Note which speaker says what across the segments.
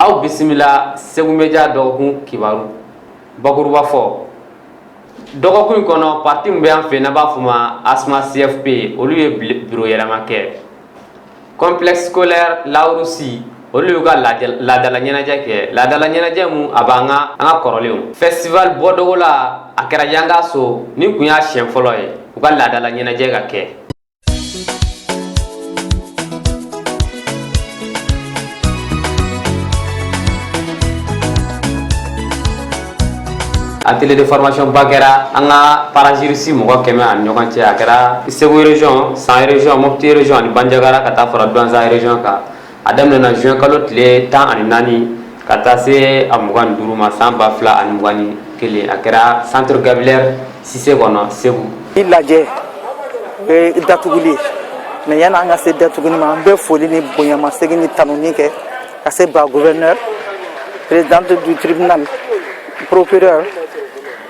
Speaker 1: aw bisimila segu media dɔgɔkun kibaru bakuruba fɔ dɔgɔkun in kɔnɔ pati min bɛ an fɛ n'an b'a fɔ ma asma cfp olu ye biro yɛlɛma kɛ complexe scolaire lawurusi olu y'u ka laadala ɲɛnajɛ kɛ laadala ɲɛnajɛ min a b'an ka kɔrɔlenw festival bɔ dogo la a kɛra yangaso nin kun y'a siɲɛ fɔlɔ ye u ka laadala ɲɛnajɛ ka kɛ atelier de formation ba kɛra an ka parajuristes mɔgɔ kɛmɛ ani ɲɔgɔn cɛ a kɛra segu region san region mopti region ani banjagara ka taa fara duwanza region kan a daminɛna juin kalo tile tan ani naani ka taa se a mugan ni duuru ma san ba fila ani mugan ni kelen a kɛra centre gabriel cissé kɔnɔ segu i lajɛ
Speaker 2: o ye datuguli ye mais yanni an ka se datuguli ma an bɛ foli ni bonyamasegin ni tanuni kɛ ka se ba gouverneur présidente du tribunal procureur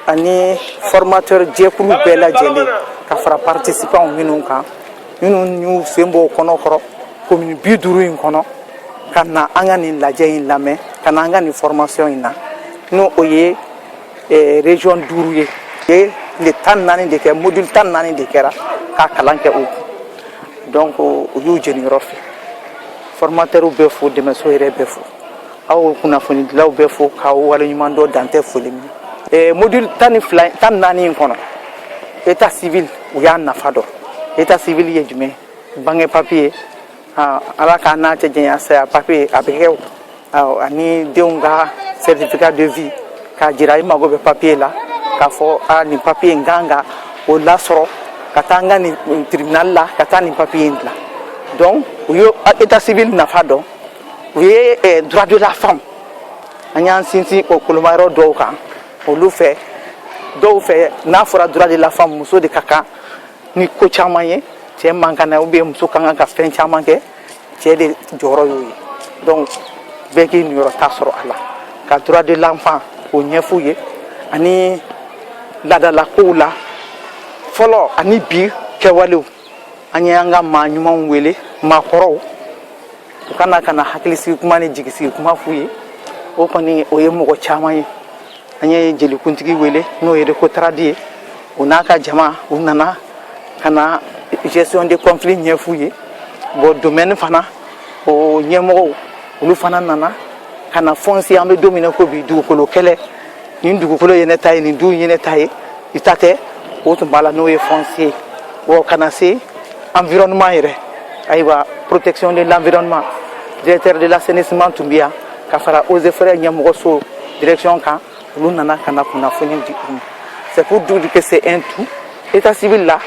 Speaker 2: ani formateur jɛkulu bɛɛ lajɛlen ka fara participanw minnu kan minnu y'u sen bɔ kɔnɔ kɔrɔ commune bi duuru in kɔnɔ ka na an ka nin lajɛ in lamɛn ka na an ka nin formation in na n'o o ye eh, region duuru ye ye le tan ni naani de kɛ module tan ni naani de kɛra ka kalan kɛ o donc u y'u jeniyɔrɔ fin formateurw bɛ fo dɛmɛso yɛrɛ bɛ fo aw kunnafonidilaw bɛ fo k'aw waleɲuman dɔn dan tɛ foli min eh, module tan ni fila tan ni naani in kɔnɔ état civil u y'a nafa dɔn état civil ye jumɛn bange papiye ah, ala k'an n'a cɛ janya saya papiye a bɛ kɛ ah, ani denw ka certificat de vie k'a jira i mago bɛ papiye la k'a fɔ a ah, nin papiye n kan ka o lasɔrɔ ka taa n ka nin tribunal la ka taa nin papiye in dilan donc u ye état civil nafa dɔn u ye eh, droit de la femme an y'an sinsin o kolomayɔrɔ dɔw kan olu fɛ dɔw fɛ n'a fɔra droit de la femme muso de ka kan ni ko caman ye cɛ man kan na ou bien muso ka kan ka fɛn caman kɛ cɛ de jɔyɔrɔ y'o ye donc bɛɛ k'i niyɔrɔ ta sɔrɔ a la ka droit de l'enfant k'o ɲɛf'u ye ani laadalakow la fɔlɔ ani bi kɛwalew an ye an ka maa ɲumanw wele maakɔrɔw u ka na ka na hakilisigi kuma ni jigisigi kuma f'u ye o kɔni o ye mɔgɔ caman ye an ye jelikuntigi wele n'o ye recotrade ye o n'a ka jama u nana ka na gestion de conflit ɲɛf'u ye bon domaine fana o ɲɛmɔgɔw olu fana nana ka na foncier an bɛ don min na ko bi dugukolo kɛlɛ nin dugukolo ye ne ta ye nin du ye ne ta ye i ta tɛ o tun b'a la n'o ye foncier ye wa ka na se environnement yɛrɛ ayiwa protection de l'environnement directeur de l'assainissement tun bɛ yan ka fara eaux et forêts ɲɛmɔgɔso direction kan olu nana ka na kunnafoni di u ma c'est pour dire que c'est un tout état civil la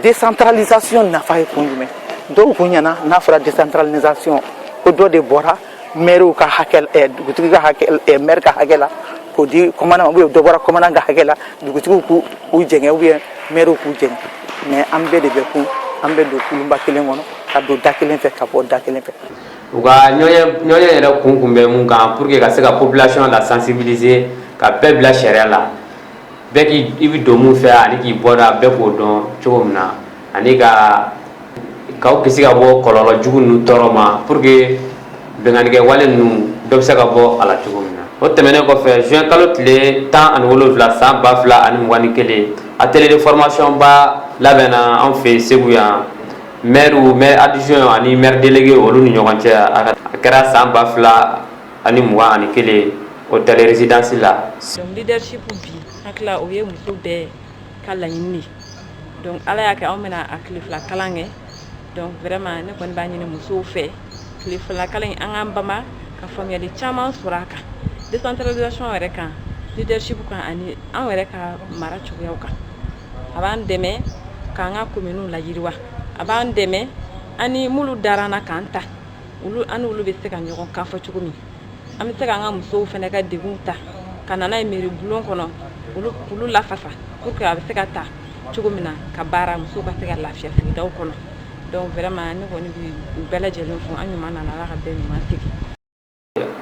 Speaker 2: décentralisation nafa ye kun jumɛn dɔw kun ɲɛ na n'a fɔra décentralisation ko dɔ de bɔra maire ka hakɛ dugutigi ka maire ka hakɛ la k'o di ou bien dɔ bɔra commandant ka hakɛ la dugutigiw k'u jɛngɛ ou bien maire k'u jɛngɛ mais an bɛɛ de bɛ kun an bɛ don kulunba kelen kɔnɔ ka don da kelen fɛ ka bɔ da kelen fɛ u
Speaker 1: ka ɲɔgɔnye yɛrɛ kun kun bɛ mun kan pour que ka se ka population la sensibiliser ka bɛɛ bila sariya la bɛɛ k'i bɛ don min fɛ ani k'i bɔda bɛɛ k'o dɔn cogo min na ani ka k'aw kisi ka bɔ kɔlɔlɔ jugu ninnu tɔɔrɔ ma pour que binkannikɛ wale ninnu dɔ bɛ se ka bɔ a la cogo min na o tɛmɛnen kɔfɛ juin kalo tile tan ani wolonwula san ba fila ani mugan ni kelen atelier de formation ba labɛnna an fɛ Segu yan maires maire adjoint ani maire délégué olu ni ɲɔgɔn cɛ a kɛra san ba fila ani mugan ani kelen hôtel résidence la. Donc leadership
Speaker 3: bi hakilila o ye muso bɛɛ ka laɲini de ye. donc ala y'a kɛ anw bɛna a tile fila kalan kɛ donc vraiment ne kɔni b'a ɲini musow fɛ tile fila kalan in an k'an banban ka faamuyali caman sɔrɔ a kan décentralisation yɛrɛ kan leadership kan ani an yɛrɛ ka mara cogoyaw kan a b'an dɛmɛ k'an ka kominiw layiriwa a b'an dɛmɛ ani minnu dara an na k'an ta olu an n'olu bɛ se ka ɲɔgɔn kan fɔ cogo min an bɛ se k'an ka musow fana ka degun ta ka na n'a ye mairie bulon kɔnɔ olu lafasa pour que a bɛ se ka ta cogo min na ka baara musow ka se ka lafiya sigidaw kɔnɔ donc vraiment ne kɔni bɛ bɛɛ lajɛlen fo an ɲuman nana ala ka bɛɛ ɲuman segin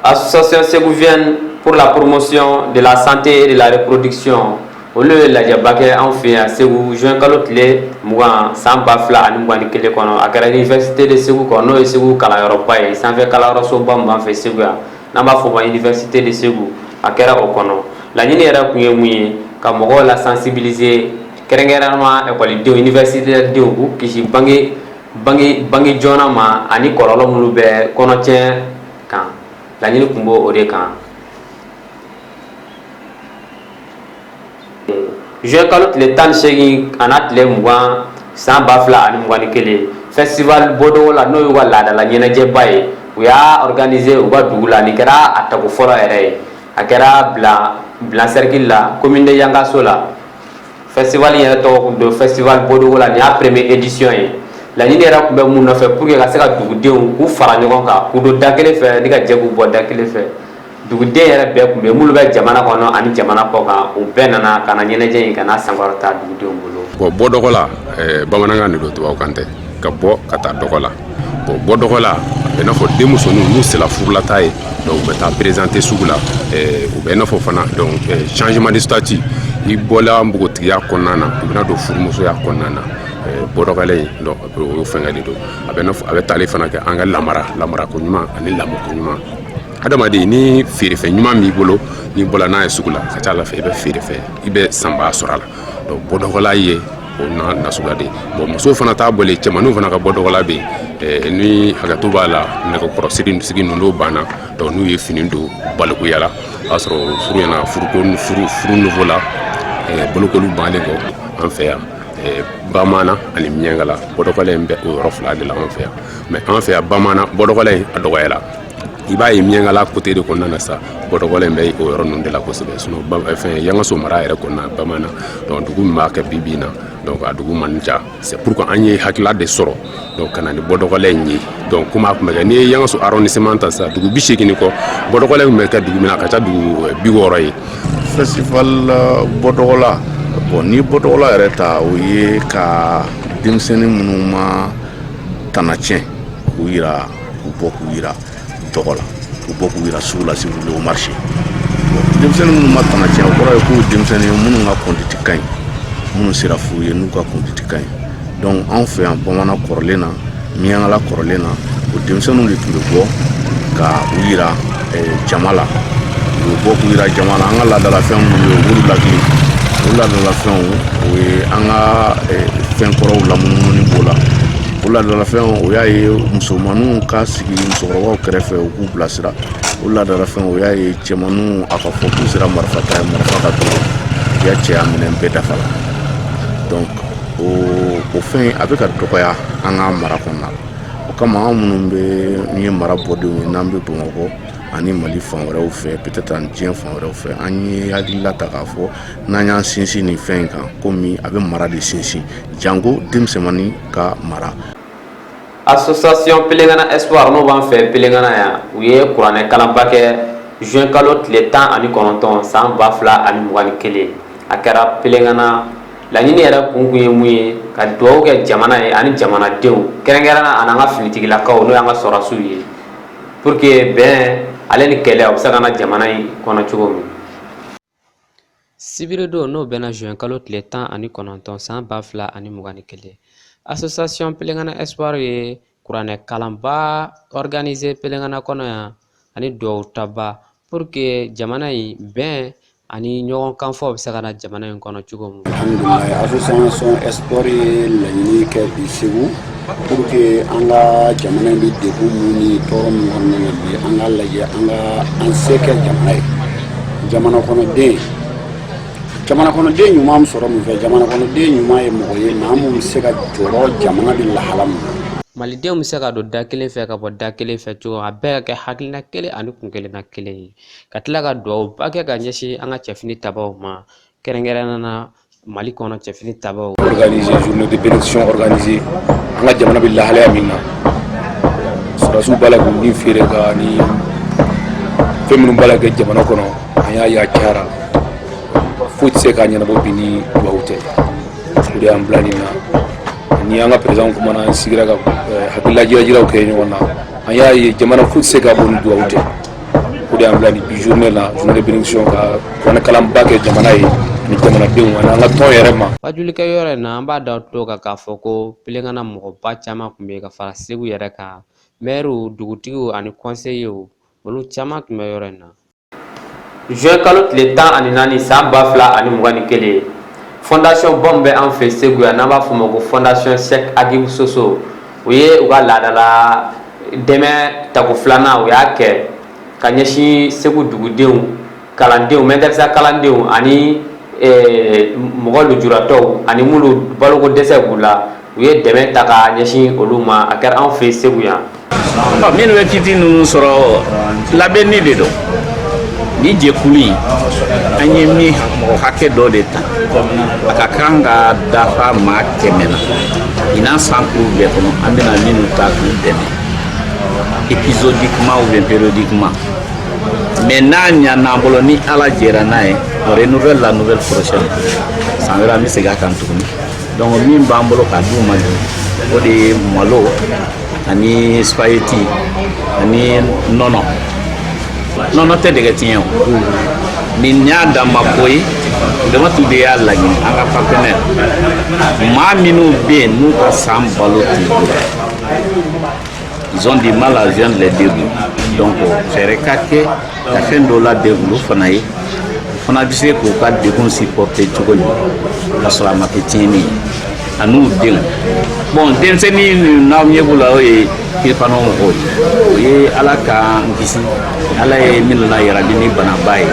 Speaker 1: association ségovienne pour la promotion de la santé de la reproduction olu ye lajɛba kɛ anw fɛ yan segu juin kalo tile mugan san ba fila ani mugan ni kelen kɔnɔ a kɛra université de segu kɔnɔ n'o ye segu kalanyɔrɔba ye sanfɛ kalanyɔrɔsoba min b'an fɛ segu yan n'an b'a fɔ o ma université de segu a kɛra o kɔnɔ laɲini yɛrɛ kun ye mun ye ka mɔgɔw la sensibiliser kɛrɛnkɛrɛnnama ekɔlidenw université denw k'u kisi bange joona ma ani kɔlɔlɔ minnu bɛ kɔnɔtiɲɛ kan laɲini kun b'o de kan juin kalo tile tan ni segin a n'a tile mugan san ba fila ani mugan ni kelen festival bɔdɔgɔ la n'o y'u ka laadala ɲɛnajɛba ye u y'a organiser u ka dugu la nin kɛra a tago fɔlɔ yɛrɛ ye a kɛra bla cercle la commune de yangasso la festival yɛrɛ tɔgɔ tun don festival bɔdɔgɔ la nin y'a première édition ye laɲini yɛrɛ tun bɛ mun nɔfɛ pour que ka se ka dugudenw k'u fara ɲɔgɔn kan k'u don da kelen fɛ ni ka jɛ k'u bɔ da kelen fɛ duguden yɛrɛ bɛɛ tun bɛ minnu bɛ jamana kɔnɔ ani jamana kɔkan u bɛɛ nana ka na ɲɛnajɛ in ka na sankɔrɔta dugudenw bolo bon bɔ dɔgɔ
Speaker 4: la eh, bamanankan de don tubabukan tɛ ka bɔ ka taa dɔgɔ la bon bɔ dɔgɔ la a bɛ n'a fɔ denmusoninw n'u sera furulata ye donc u bɛ taa présenter sugu la eh, u bɛ n'a fɔ fana donc eh, changement de statut i bɔla npogotigiya kɔnɔna na i bɛna don furumusoya kɔnɔna na bɔdɔgɔla in donc o y'o fɛngɛ de don a bɛ n'a fɔ a bɛ tali fana kɛ an ka lamara lamarako ɲuman ani lamɔko ɲuman adamaden ni feerefɛn ɲuman b'i bolo n'i bɔla n'a ye sugu la ka ca la fɛ i bɛ feerefɛn i bɛ sanbaa sɔrɔ a la donc bɔdɔgɔla ye o na nasuguya de bon muso fana t'a bɔlen cɛmanninw fana ka bɔdɔgɔla bɛ yen ni hakɛto b'a la nɛgɛkɔrɔsiri sigi ninnu banna donc n'u ye fini don balikuya la o y'a sɔrɔ furu ɲɛna furuko furu furu niveau la bolokoli bannen kɔ an fɛ yan bamanan ani miɲankala bɔdɔgɔla in bɛ o yɔrɔ fila de la an fɛ yan mais an fɛ yan bamanan bɔdɔgɔla in a dɔgɔyara i b'a ye miɲankala côté de kɔnɔna na sa bɔdɔgɔla in bɛ o yɔrɔ ninnu de la kosɛbɛ sinon fɛn yangaso mara yɛrɛ kɔnɔna bamanan donc dugu min b'a kɛ bi bi in na donc a dugu man ca c'est pourquoi an ye hakilila de sɔrɔ donc ka na ni bɔdɔgɔla in ye donc komi a tun bɛ kɛ n'i ye yangaso arrondissement ta sa dugu bi seegin kɔ bɔdɔgɔla in bɛ kɛ dugu min na a ka ca dugu eh, bi wɔɔrɔ ye
Speaker 5: festival eh, bɔdɔgɔla bon ni bɔdɔgɔla yɛrɛ ta o ye ka denmisɛnnin minnu ma tana tiɲɛ k'u yira u bɔ k'u yira dɔgɔ la u bɔ k'u yira sugu la c'est que au marché denmisɛnnin minnu ma tana tiɲɛ o kɔrɔ ye k'u denmisɛnnin ye minnu ka conduite ka ɲi minnu sera furu ye n'u ka conduite ka ɲi donc anw fɛ yan bamanan kɔrɔlen na miɲankala kɔrɔlen na o denmisɛnninw de tun bɛ bɔ ka u yira eh, jama la u bɛ bɔ k'u yira jama la an ka laadalafɛn minnu bɛ yen u b'olu lakili o laadalafɛnw o ye an ka eh, fɛn kɔrɔw lamunumuni b'o la o laadalafɛn o y'a ye musomanninw ka sigi musokɔrɔbaw kɛrɛfɛ u k'u bilasira o laadalafɛn o y'a ye cɛmanninw a ka fɔ k'u sera marifa ta ye marifa ka dɔgɔ u y'a cɛya minɛn bɛɛ dafa la donc o o fɛn a bɛ ka dɔgɔya an ka mara kɔnɔna la o kama an minnu bɛɛ ye mara bɔdenw ye n'an bɛ bamakɔ ani mali fan wɛrɛw fɛ peut-être ani diɲɛ fan wɛrɛw fɛ an ye hakilila ta k'a fɔ n'an y'an sinsin nin fɛn in kan komi a bɛ mara de sinsin janko denmisɛnmannin ka
Speaker 1: mara association pelengana espoir n'o b'an fɛ pelengana yan u ye kuranɛ kalanba kɛ juin kalo tile tan ani kɔnɔntɔn san ba fila ani mugan ni kelen a kɛra pelengana laɲini yɛrɛ kun kun ye mun ye ka dugawu kɛ jamana ye ani jamanadenw kɛrɛnkɛrɛnna a n'an ka finitigilakaw n'o y'an ka sɔrɔdasiw ye pour que bɛn ale ni kɛlɛ o bɛ se ka na jamana in kɔnɔ cogo min Sibiridon n'o bɛnna juin kalo tile tan ani kɔnɔntɔn san ba fila ani mugan ni kelen association pelengana espoir ye kuranɛ kalanba organiser pelengana kɔnɔ yan ani duwawu taba pour que jamana in bɛn ani ɲɔgɔn kanfɔ bɛ se ka na jamana in kɔnɔ cogo min
Speaker 6: alhamdulilayi association espoir ye laɲini kɛ bi segu pour que an ka jamana in bɛ degun mun ni tɔɔrɔ mun kɔnɔna na bi an k'a lajɛ an ka an se kɛ jamana ye jamana kɔnɔden jamana kɔnɔden ɲuman bɛ sɔrɔ mun fɛ jamana kɔnɔden ɲuman ye mɔgɔ ye maa mun bɛ se ka jɔrɔ jamana bɛ lahala mun na malidenw bɛ se ka
Speaker 1: don da kelen fɛ ka bɔ da kelen fɛ cogo a bɛɛ ka kɛ hakilina kelen ani kun kelenna kelen ye ka tila ka duwawuba kɛ ka ɲɛsin an ka cɛfini tabaw ma kɛrɛnkɛrɛnnenya na mali kɔnɔ cɛfini tabaw organiser journée
Speaker 7: de bénédiction organiser an ka jamana bɛ lahalaya min na sɔrɔdasiw b'a la k'u ni feere ka ni fɛn minnu b'a la kɛ jamana kɔnɔ an y'a ye a cayara foyi tɛ se k'a ɲɛnabɔ bi ni duwawu tɛ o de y'an bila nin na ni an ka président kumana an sigira ka hakililajirajiraw kɛ ɲɔgɔn na an y'a ye jamana foyi tɛ se ka bɔ ni duwawu tɛ o de y'an bila nin bi journée la journée bénédiction ka kuranɛkalanba kɛ jamana ye ni jamanadenw ani an ka tɔn yɛrɛ ma waajulikɛ yɔrɔ in na an
Speaker 1: b'a d'aw tulo kan k'a fɔ ko pelengana mɔgɔba caman tun bɛ ka fara segu yɛrɛ kan mɛriw dugutigiw ani kɔnseyew olu caman tun bɛ yɔrɔ in na juin kalo tile tan ani naani san ba fila ani mugan ni kelen fondation bɔn bɛ an fɛ segu yan n'an b'a fɔ o ma ko fondation cheikh agibou soso u ye u ka laadala dɛmɛ tako filanan u y'a kɛ ka ɲɛsin segu dugudenw kalandenw mɛdɛrɛsa kalandenw ani mɔgɔ lujuratɔw ani minnu baloko dɛsɛ b'u la u ye dɛmɛ ta ka ɲɛsin olu ma a kɛra an fɛ segu yan minnu
Speaker 8: bɛ kiti ninnu sɔrɔ labɛnni de don ni jɛkulu in an ye min mɔgɔ hakɛ dɔ de ta a ka kan ka dafa maa kɛmɛ na ɲinan san kuru bɛɛ kɔnɔ an bɛna minnu ta k'u dɛmɛ épisodiquement ou bien périodiquement mais n'a ɲan'an bolo ni ala jɛra n'a ye on renouvelle la nouvelle prochaine san wɛrɛ an bɛ segin a kan tuguni donc min b'an bolo k'a d'u ma o de ye malo ani spaghetti ani nɔnɔ nɔnɔ tɛ dɛgɛ tiɲɛ o nin y'a dan ma ko ye damatu de y'a laɲini an ka partenaire maa minnu bɛ yen n'u ka san balo tɛ ils ont du mal à joindre les deux bouts donc fɛɛrɛ ka kɛ ka fɛn dɔ labɛn olu fana ye u fana bɛ se k'u ka degun supporter cogo min ka sɔrɔ a ma kɛ tiɲɛni ye an'u denw bon denmisɛnnin min n'aw ɲɛ b'u la o ye kirifana mɔgɔw ye o ye ala k'an kisi ala ye minnu lajarabi ni banaba ye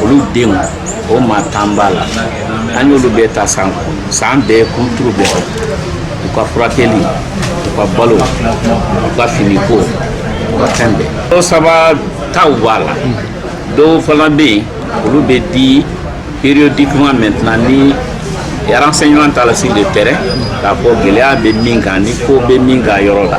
Speaker 8: olu denw o maa tan b'a la an y'olu bɛɛ ta san kɔnɔ san bɛɛ kuturu bɛɛ u ka furakɛli u ka balo u ka finiko u ka fɛn bɛɛ dɔw saba taw b'a la dɔw fana bɛ yen olu bɛ di périodiquement maintenant ni renseignement tala sur le terrain k'a fɔ gɛlɛya bɛ min kan ni ko bɛ min kan yɔrɔ la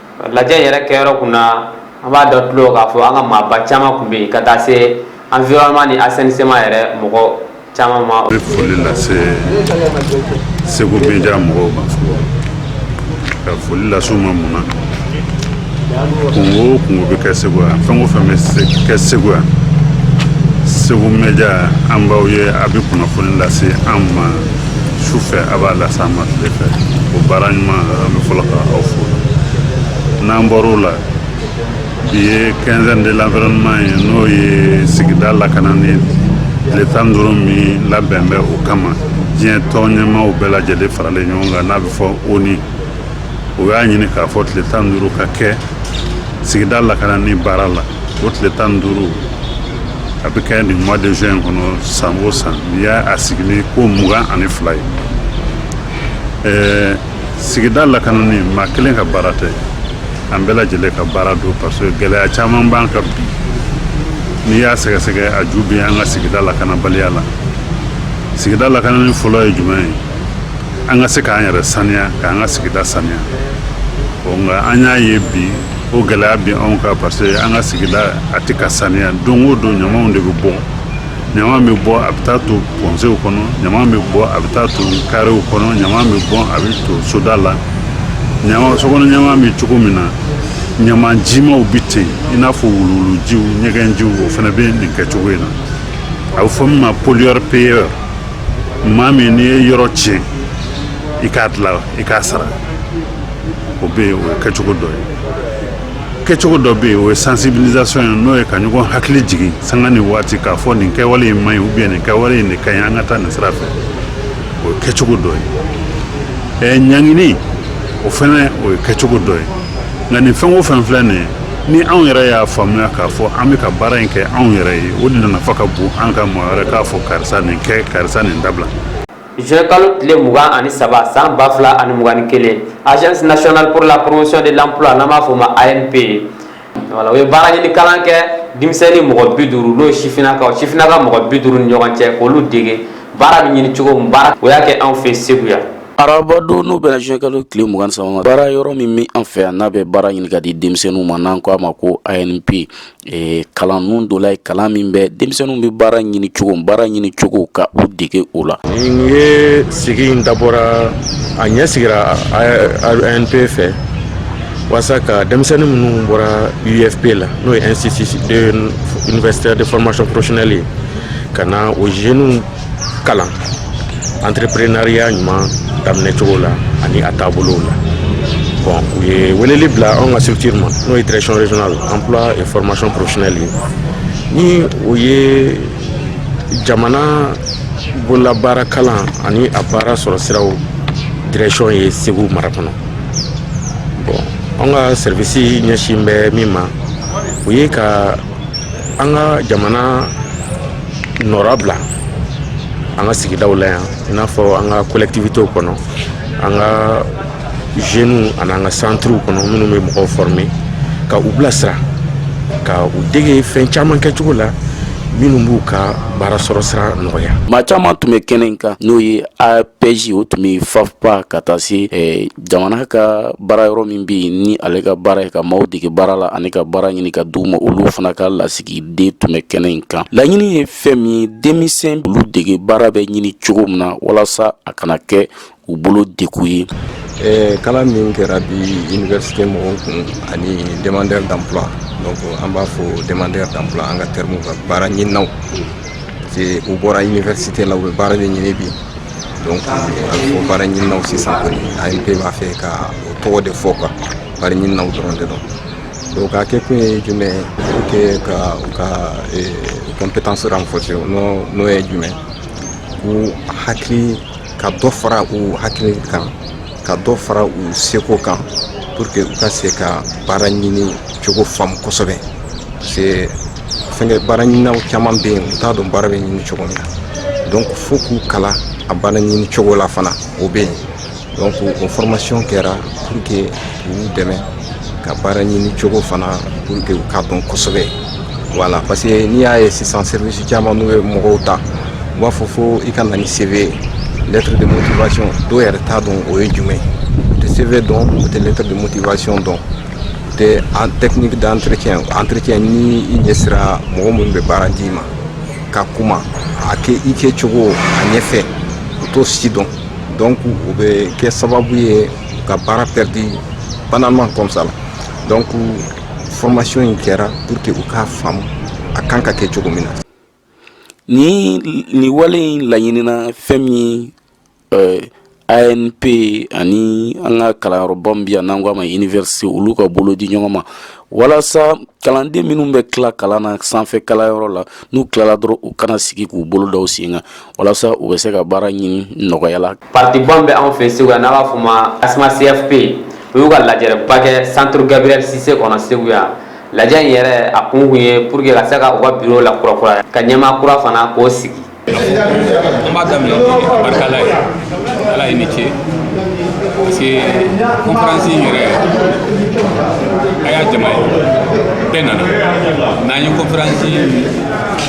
Speaker 1: lajɛ yɛrɛ kɛyɔrɔ kun na an b'a d'aw tulo k'a fɔ an ka maaba caman tun bɛ yen ka taa se environnement ni assainissement yɛrɛ mɔgɔ caman ma. N bɛ foli lase
Speaker 9: Segu media mɔgɔw ma fɔlɔ ka foli lase u ma mun na kungo o kungo bɛ kɛ Segu yan fɛn o fɛn bɛ kɛ Segu yan Segu media an b'aw ye a bɛ kunnafoni lase an ma. su fɛ a b'a lase an ma tile fɛ o baara ɲuman an bɛ fɔlɔ ka aw fo n'an bɔra o la bi ye quinzaine de l'environnement ye n'o ye sigida lakanani tile tan duuru min labɛn bɛ o kama diɲɛ tɔn ɲɛmaaw bɛɛ lajɛlen faralen ɲɔgɔn kan n'a bɛ fɔ ONU o y'a ɲini k'a fɔ tile tan duuru ka kɛ sigida lakanani baara la o tile tan duuru a bɛ kɛ nin mois de juin kɔnɔ san o san nin y'a sigini ko mugan ani fila ye ɛɛ sigida lakanani maa kelen ka baara tɛ an bɛɛ lajɛlen ka baara don parce que gɛlɛya caman b'an kan bi n'i y'a sɛgɛsɛgɛ a ju bɛ an ka sigida lakanabaliya la sigida lakanani fɔlɔ ye jumɛn ye an ka se k'an yɛrɛ saniya k'an ka sigida saniya ɔ nka an y'a ye bi o gɛlɛya bɛ anw kan parce que an ka sigida a tɛ ka saniya don o don ɲamaw de bɛ bɔ ɲama bɛ bɔ a bɛ taa to pɔnsew kɔnɔ ɲama bɛ bɔ a bɛ taa to karew kɔnɔ ɲama bɛ bɔ a bɛ to soda la ɲama sokɔnɔ ɲama bɛ cogo min na ɲama jimaw bɛ ten i n'a fɔ wuluwulujiw ɲɛgɛnjiw o fana bɛ nin kɛcogo in na a bɛ fɔ min ma pollueur payeur maa min n'i ye yɔrɔ tiɲɛ i k'a dilan i k'a sara o bɛ yen o ye kɛcogo dɔ ye kɛcogo dɔ bɛ yen o ye sensibilisation ye n'o ye ka ɲɔgɔn hakili jigin sanga ni waati k'a fɔ nin kɛwale in man ɲi ou bien nin kɛwale in de ka ɲi an ka taa nin sira fɛ o ye kɛcogo dɔ ye ɛɛ ɲangini o fana o ye kɛcogo dɔ ye nka nin fɛn o fɛn filɛ nin ye ni anw yɛrɛ y'a faamuya k'a fɔ an bɛ ka baara in kɛ anw yɛrɛ ye o de nafa ka bon an ka maa wɛrɛ k'a fɔ karisa nin kɛ karisa nin dabila Juin
Speaker 1: kalo tile mugan ani saba san ba fila ani mugan ni kelen agence nationale pour la promotion de l'emploi n'an b'a fɔ o ma ANPE voilà o ye baara ɲini kalan kɛ denmisɛnnin mɔgɔ bi duuru n'o ye sifinnakaw sifinnaka mɔgɔ bi duuru ni ɲɔgɔn cɛ k'olu dege baara bɛ ɲini cogo baara o y'a kɛ anw fɛ segu yan
Speaker 10: araba don n'o bɛnna juin kalo tile mugan ni saba baara yɔrɔ min bɛ an fɛ yan n'a bɛ baara ɲini ka di denmisɛnninw ma n'an ko a ma ko ANPE Ee kalan ninnu dɔ la ye kalan min bɛ denmisɛnninw bɛ baara ɲini cogo baara ɲini cogo ka u dege o la nin ye
Speaker 4: sigi in dabɔra a ɲɛ sigira ANPE fɛ walasa ka denmisɛnnin minnu bɔra IUFP la n'o ye institut universitaire de formation professionnelle ye ka na o jeunes kalan entrepreneuriat ɲuman daminɛ cogo la ani a taabolow la bon u ye weleli bila anw ka structure ma n'o ye direction régionale emploi et formation professionnelle ye ni o ye jamana bololabaara kalan ani a baara sɔrɔ siraw direction ye segu mara kɔnɔ bon anw ka service ɲɛsin bɛ min ma o ye ka an ka jamana nɔra bila an ka sigidaw la yan i n'a fɔ an ka collectivitéw kɔnɔ an ka jeunes ani an ka centrew kɔnɔ minnu bɛ mɔgɔw former ka u bilasira ka u dege fɛn caman kɛcogo la minnu b'u ka baara sɔrɔ sira nɔgɔya maa caman tun bɛ
Speaker 10: kɛnɛ in kan n'o ye APEJ o tun bɛ FAFPA ka taa se jamana ka baara yɔrɔ min bɛ yen ni ale ka baara ye ka maaw dege baara la ani ka baara ɲini ka d'u ma olu fana ka lasigiden tun bɛ kɛnɛ in kan laɲini ye fɛn min ye denmisɛn olu dege baara bɛ ɲini cogo min na walasa a kana kɛ u bolo degun ye
Speaker 11: kalan min kɛra bi université mɔgɔw kun ani demandeur d'emploi an b'a fɔ demandeur d'emploi an ka terme ka baara ɲinina C'est u bɔra université la u bɛ baara de ɲini bi donc a bɛ fɔ baara ɲininaw sisan kɔni ANPE b'a fɛ ka o tɔgɔ de fɔ quoi baara ɲininaw dɔrɔn de don donc a kɛ kun ye jumɛn ye pour que ka u ka eh, compétence renforcer n'o n'o ye jumɛn k'u hakili ka dɔ fara u hakili kan ka dɔ fara u seko kan pour que u ka se ka baara ɲini cogo faamu kosɛbɛ parce que fɛnkɛ baara ɲininaw caman bɛ yen u t'a dɔn baara bɛ ɲini cogo min na donc fo k'u kalan a baara ɲini cogo la fana o bɛ yen donc o formation kɛra pour que k'u dɛmɛ ka baara ɲini cogo fana pour que u k'a dɔn kosɛbɛ voilà parce que n'i y'a ye sisan service caman n'u ye mɔgɔw ta u b'a fɔ fo i ka na ni CV lettre de motivation dɔw yɛrɛ t'a dɔn o ye jumɛn u tɛ CV dɔn u tɛ lettre de motivation dɔn u tɛ en technique d'entretien entretien ni i ɲɛsira mɔgɔ minnu bɛ baara d'i ma ka kuma a kɛ i kɛ cogo a ɲɛfɛ u t'o si dɔn donc o bɛ kɛ sababu ye ka baara perdu banalement comme ça la donc formation in kɛra pour que u k'a faamu a kan ka kɛ cogo min na
Speaker 10: nin wale in laɲinina fɛn min euh, anpe ani an ka kalanyɔrɔba min bi yan n'an ko a ma université olu ka bolo di ɲɔgɔn ma walasa kalanden minnu bɛ tila kalan na sanfɛ kalanyɔrɔ la n'u tilala dɔrɔn u kana sigi k'u bolo da u sen kan walasa u bɛ se ka baara ɲini nɔgɔya la pati dɔ bɛ anw
Speaker 1: fɛ segu yan n'a b'a fɔ o ma asma cfp u y'u ka lajɛrɛba kɛ centre gabriel cissé kɔnɔ segu yan lajɛ in yɛrɛ a kun ye pour que ka se ka u ka bureau lakurakura ka ɲɛmaa kura fana k'o sigi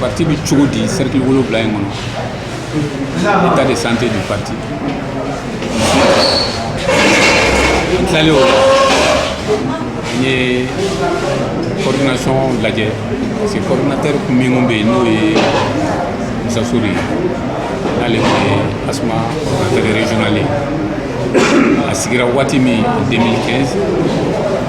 Speaker 7: pati bɛ cogo di cercle wolonwula in kɔnɔ état de santé du parti tilalen o la an ye coordination lajɛ parce que coordinateur kɔrɔ min kun bɛ yen n'o ye musa sori ye n'ale kun ye asma coordinateur régional ye a sigira waati min 2015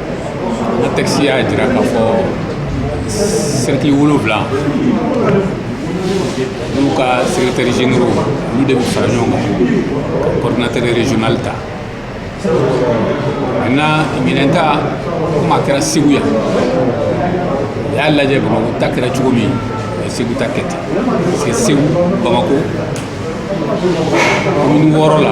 Speaker 7: N tɛsi y'a jira k'a fɔ sɛti wolowula n'u ka sɛtere zgin olu de bɛ fara ɲɔgɔn kan kɔnɔnatɛre zli ta a na minɛn ta kuma kɛra segu yan u y'a lajɛ bamakɔ ta kɛra cogo min o segu ta kɛ ten parce que segu bamakɔ wɔɔrɔ la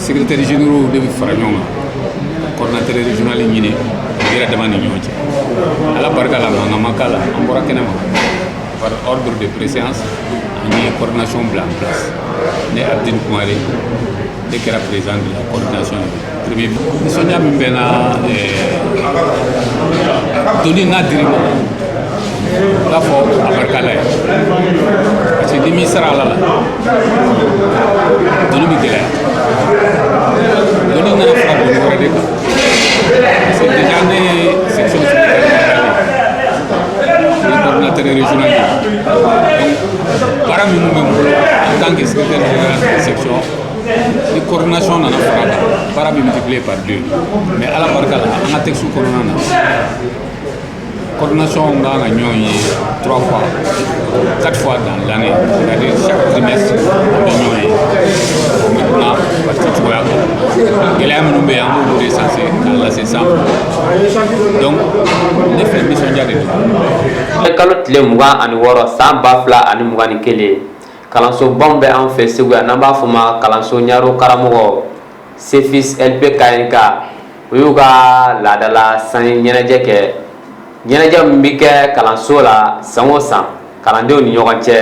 Speaker 7: secrétaire généraux de bɛ fara ɲɔgɔn kan coordinateur régional ɲini u yɛrɛ dama ni ɲɔgɔn cɛ ala barika la mankan ma k'a la an bɔra kɛnɛ ma par ordre de préséance an ye coordination bila en place ne abdine kumare ne kɛra président de la coordination premier nisɔndiya min bɛ n na doni n'a dir'i ma i b'a fɔ abarika ala ye parce que n'i m'i sara ala la doni bɛ gɛlɛya doni nana fara doni wɛrɛ de kan parce que déjà ne ye section secrétaire général ye ne coordinateur régional ye donc baara minnu bɛ n bolo en tant que secrétaire général de section ni coordination nana fara a kan baara bɛ multiplier par deux mais ala barika la an ka texte kɔnɔna na coordination kan ka ɲɔgɔn ye trois fois quatre fois dans l'année c'est-à-dire chaque trimestre an bɛ ɲɔgɔn ye maintenant parti cogoya kan gɛlɛya minnu bɛ yen an b'olu recenser k'a lase sanfɛ donc ne fɛ nisɔndiya de don kalo tile
Speaker 1: mugan ani wɔɔrɔ san ba fila ani mugan ni kelen kalansobaw bɛ an fɛ segu yan n'an b'a fɔ ma kalanso ɲaro karamɔgɔ Sefis LP KNK u y'u ka laadala sanji ɲɛnajɛ kɛ, ɲɛnajɛ min bɛ kɛ kalanso la san o san kalandenw ni ɲɔgɔn cɛ,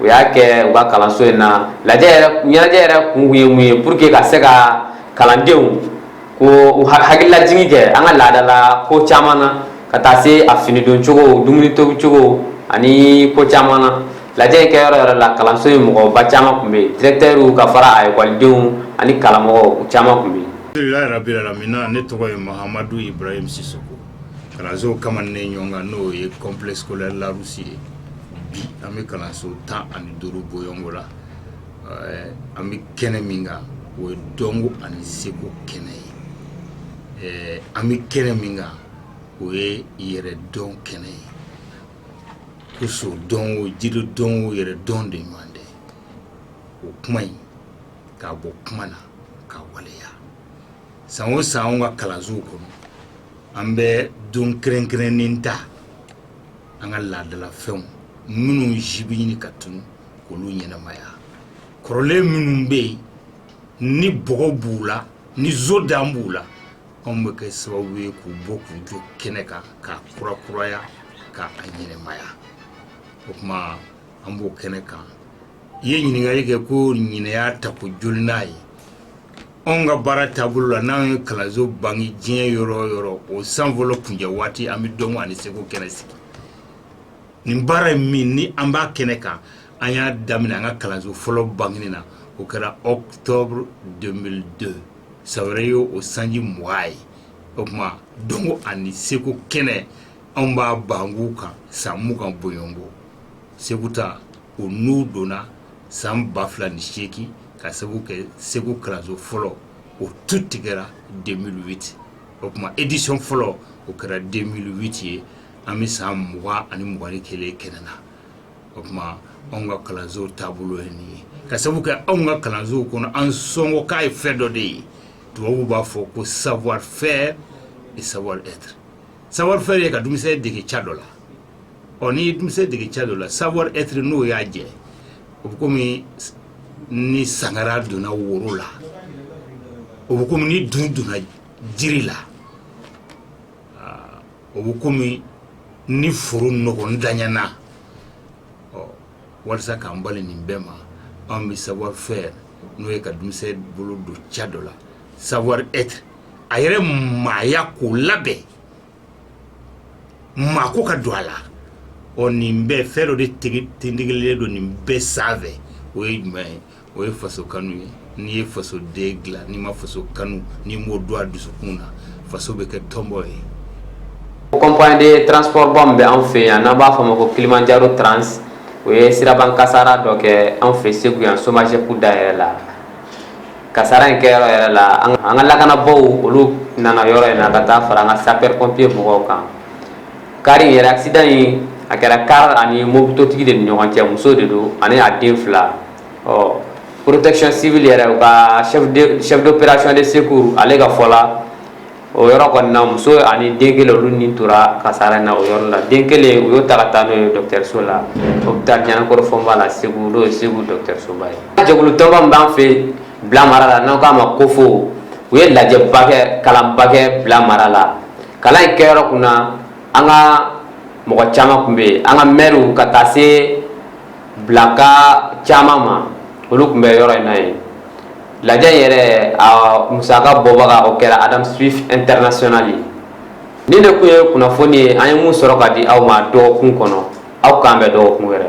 Speaker 1: u y'a kɛ u ka kalanso in na, ɲɛnajɛ yɛrɛ kun ye mun ye pour que ka se ka kalandenw k'u hakililajigin kɛ an ka laadala ko caman na ka taa se a finidoncogo, dumuni tobicogo ani ko caman na lajɛ in kɛ yɔrɔ yɛrɛ la kalanso in mɔgɔba caman tun bɛ yen directeur ka fara a ekɔlidenw ani karamɔgɔw caman tun bɛ yen alhamdulilayi rabil alamina
Speaker 9: ne tɔgɔ ye Mahamadu Ibrahim Sisoko kalanso kamanen ɲɔgɔn kan n'o ye complexe scolaire Larousse ye bi an bɛ kalanso tan ani duuru bɔ ɲɔgɔnko la an bɛ kɛnɛ min kan o ye dɔnko ani seko kɛnɛ ye an bɛ kɛnɛ min kan o ye yɛrɛ dɔn kɛnɛ ye ko so dɔn o jiri dɔn o yɛrɛ dɔn de ɲɔgɔn tɛ o kuma in k'a bɔ kuma na k'a waleya san o san an ka kalansow kɔnɔ an bɛ don kɛrɛnkɛrɛnnen ta an ka laadalafɛnw minnu si bɛ ɲini ka tunu k'olu ɲɛnamaya kɔrɔlen minnu bɛ yen ni bɔgɔ b'u la ni zɔn dan b'u la Anw bɛ kɛ sababu ye k'u bɔ k'u jɔ kɛnɛ kan k'a kurakuraya ka a ɲɛnamaya o tuma an b'o kɛnɛ kan i ye ɲininkali kɛ ko ɲinan y'a tako jolinan ye anw ka baara taabolo la n'an ye kalanso bange diɲɛ yɔrɔ o yɔrɔ o san fɔlɔ kuncɛ waati an bɛ dɔnko ani seko kɛnɛ sigi nin baara ye min ni an b'a kɛnɛ kan an y'a daminɛ an ka kalanso fɔlɔ bangeni na o kɛra octobre deux mille deux san wɛrɛ ye o sanji mugan ye o tuma dɔnko ani seko kɛnɛ anw b'a bangeko kan san mugan bɔ ɲɔgɔnko segu ta u n' donna san ba fila ni seegin ka sabu kɛ segu kalanso fɔlɔ o tu tigɛra deux mille huit o tuma édition fɔlɔ o kɛra deux mille huit ye an bɛ san mugan ani mugan ni kelen kɛnɛ na o tuma anw ka kalanso taabolo ye nin ye ka sabu kɛ anw ka kalanso kɔnɔ an sɔngɔ k'a ye fɛn dɔ de ye tubabuw b'a fɔ ko savoir faire et savoir être savoir faire ye ka denmisɛn dege ca dɔ la ɔ ni denmisɛn dege ca dɔ la savoir être n'o y'a jɛ o bɛ kɔmi ni sangara donna woro la o bɛ kɔmi ni dun donna jiri la o bɛ kɔmi ni foro nɔgɔntanyana walasa k'an bali nin bɛɛ ma an bɛ savoir faire n'o ye ka denmisɛn bolo don ca dɔ la savoir être a yɛrɛ maaya k'o labɛn maa ko ka don a la ɔ nin bɛɛ fɛn dɔ de tindigilen don nin bɛɛ sanfɛ o ye
Speaker 12: jumɛn ye o ye faso kanu ye n'i ye faso den dilan n'i ma faso kanu n'i m'o don a dusukun na faso bɛ kɛ tɔnbɔ ye o
Speaker 1: compagnie de transport ba min bɛ an fɛ yan n'an b'a fɔ o ma ko kilimanjaro trans o ye siraban kasaara dɔ kɛ an fɛ segu yan somagep da yɛrɛ la kasaara in kɛ yɔrɔ yɛrɛ la an ka lakanabaw olu nana yɔrɔ in na ka taa fara an ka sapeur pompier mɔgɔw kan car in yɛrɛ accident in a kɛra car ani mototigi de ni ɲɔgɔn cɛ muso de don ani a den fila ɔ protection civile yɛrɛ u ka chef d'opération de secours ale ka fɔ la o yɔrɔ kɔni na muso ani den kelen olu ni tora kasara na o yɔrɔ la den kelen u y'o ta ka taa n'o ye dɔgɔtɔrɔso la hôpital Ɲanakɔrɔ Fɔnba la Segu n'o ye Segu dɔgɔtɔrɔsoba ye jɛkulu tɔnba min b'an fɛ Bila mara la n'an k'a ma Kofo u ye lajɛba kɛ kalanba kɛ Bila mara la kalan in kɛyɔrɔ kunna an ka mɔgɔ caman tun bɛ yen an ka maires ka taa se bilaka caman ma olu tun bɛ yɔrɔ in na yen lajɛ yɛrɛ a musaka bɔbaga o kɛra adam swift international ye nin de tun ye kunnafoni ye an ye mun sɔrɔ ka di aw ma dɔgɔkun kɔnɔ aw k'an bɛn dɔgɔkun wɛrɛ